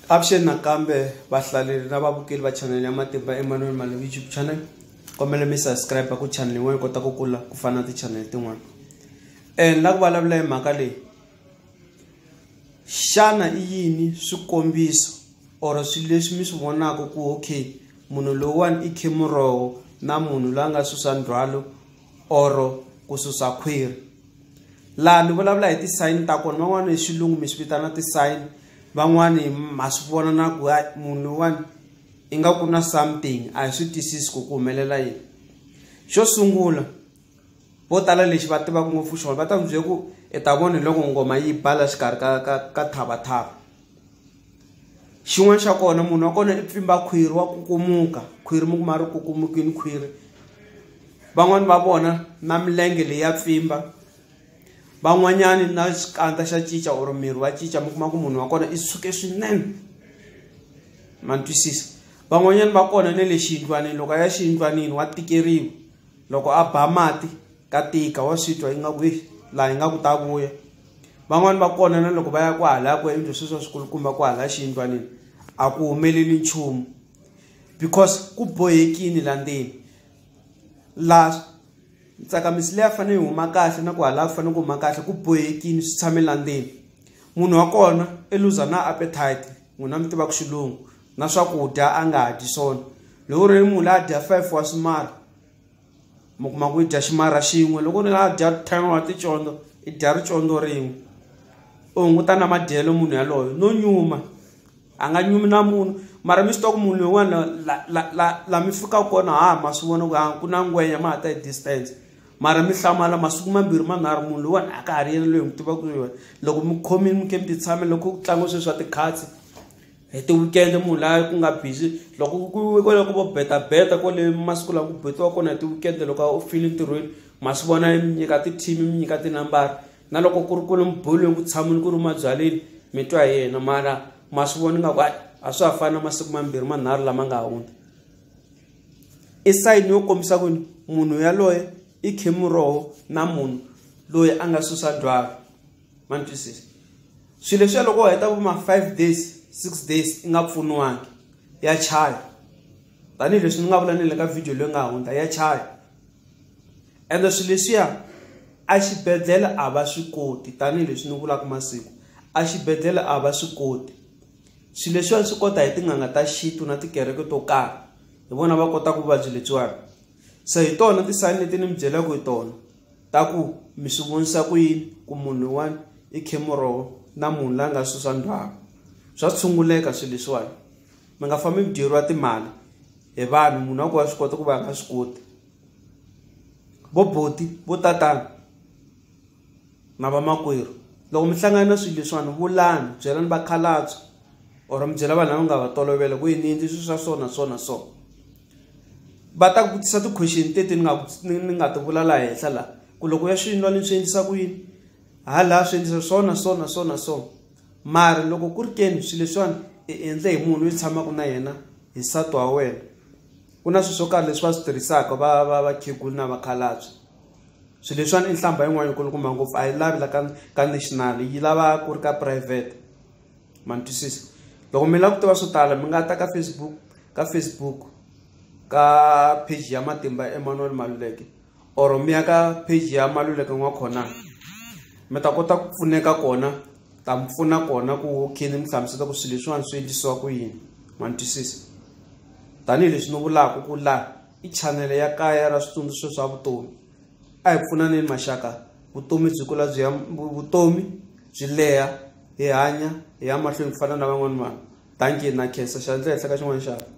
Avuxeni nakambe vahlaleri na vavukeli va channel ya Matimba Emmanuel Mali YouTube channel. Kombela mi subscribe ku channel yin'wana yi kota ku kula ku fana na ti-channel tin'wana. Eh ni la ku vulavula hi mhaka leyi. Xana i yini swikombiso or swilo leswi mi swi vonaka ku okay munhu lowuwani i khe muroho na munhu la nga susa ndzhwalo or ku susa khwiri. laha ni vulavula hi ti-sign ta kona van'wana hi xilungu mi swi vitana ti-sign van'wani ma swi vona na ku ya munhu loyiwani i nga ku na something a hi swi twisisi ku ku humelela yini xo sungula vo tala lexi va tivaka ngopfu xona va ta ku byela ku i ta vona hi loko ngoma yi bala xikarhi ka ka ka thavathava xin'wana xa kona munhu wa kona i pfimba khwiri wa kukumuka khwiri mi kuma ri kukumukini khwiri van'wani va vona na milenge leyi ya pfimba van'wanyani na xikandza xa cinca or miri wa cinca mi kuma ku munhu wa kona i suke swinene ma ni twisisa van'wanyani va kona ne le xiyindlwanini loko a ya xiyindlwanini wa tikeriwa loko a ba mati ka tika wa swi twa ingaku laha ingaku ta vuya. van'wani va kona na loko va ya kwahalaya ku endle sweswi wa swikulukumba kwahalaya xiyindlwanini a ku humeleli nchumu because ku bohekini la ndzeni la ntsakamiso leyi a fanele yi huma kahle na ku halaya ku fanele ku huma kahle ku bohekini swi tshame la ndzeni munhu wa kona i luza na appetite n'wina mi tivaka xilungu na swakudya a nga ha dyi swona loko ri ri munhu la a dya five wa swimara mi kuma ku i dya ximarha xin'we loko ni nga dya ten wa ticondzo i dya ricondzo rin'we u hunguta na madyelo munhu yaloyo no nyuma a nga nyumi na munhu mara mi swi tiva ku munhu loyiwani la la la la mi fikaka kona ha ma swi vona ku ha ku na ngwenya ma ha ta hi distance mara mi hlamala masiku mambirhi manharhu munhu loyiwani a ka ha ri yena loyi hi n'wi tivaka yona loko mi khomile mi ke mi ti tshame loko ku tlangiwa swilo swa ti-cards. hi ti-weekend munhu laha ku nga busy loko ku kwale ku vo betabeta kwale masiku lawa ku betiwa kona hi ti-weekend loko u file ntirhweni ma swi vona mi nyika ti-team mi nyika tinambara na loko ku ri ku ri mibolweni ku tshamile ku ri mabyaleni mi twa hi yena mara ma swi vona ingaku a swa ha fani na masiku mambirhi manharhu lama nga hundza i sayini yo kombisa ku munhu yaloye i khemiroho na munhu loyi a nga susa dwaka ma ni twisisa swilo leswiya loko u heta vo ma five days six days i nga pfuniwangi ya chaya tanihileswi ni nga vula ni le ka video leyi nga hundza ya chaya ende swilo leswiya a xibedhlele a va swi koti tanihileswi ni vulaka masiku a xibedhlele a va swi koti swilo leswiwani swi kota hi tin'anga ta xintu na tikereke to karhi hi vona va kotaka vuvabyi lebyiwani so hi tona ti-sign leti ni mi byelaka hi tona ta ku mi swi vonisa ku yini ku munhu un'wana i khe muroho na munhu la nga susa ndhwaka swa tshunguleka swilo leswiwani mi nga fambi mi dyeriwa timali hi vanhu munhu wa ku wa swi kota ku va nga swi koti vo boti vo tatana na vamakwerhu loko mi hlangana na swilo leswiwani vulani byelani vakhalabye or mi byela vanhu lava nga va tolovela ku yini ni endli swilo swa so na so na so. va ta ku vutisa ti-question teti ni nga ni ni nga ti vula laha henhla laha ku loko ya swi nwa ni swi endlisa ku yini ha laha swi endlisa swo na swo na swo na swo mara loko ku ri keni swilo leswiwani i endle hi munhu loyi tshamaka na yena hi nsati wa wena ku na swilo swo karhi leswi va swi tirhisaka va va vakhegula na vakhalabye swilo leswiwani i nhlamba yin'wana yi kulukumba ngopfu a yi lavi la ka ka national yi lava ku ri ka private. ma ni twisisa loko mi lava ku tiva swo tala mi nga ta ka facebook ka facebook ka page ya matimba emmanuel maluleke or mi ya ka page ya maluleke n'wa khona mi ta kota ku pfuneka kona ta mi pfuna kona ku okay ni mi hlamusela ku swilo leswiwani swi endlisiwa ku yini ma ni twisisa tanihileswi ni vulaka ku laha i chanele ya kaya ra switsundzuxo swa vutomi a hi pfunaneni maxaka vutomi byi kula byi ya vutomi byi leha hi hanya hi ya mahlweni ku fana na van'wana vanhu dankie na khensa xandla ehenhla ka xin'wana xana.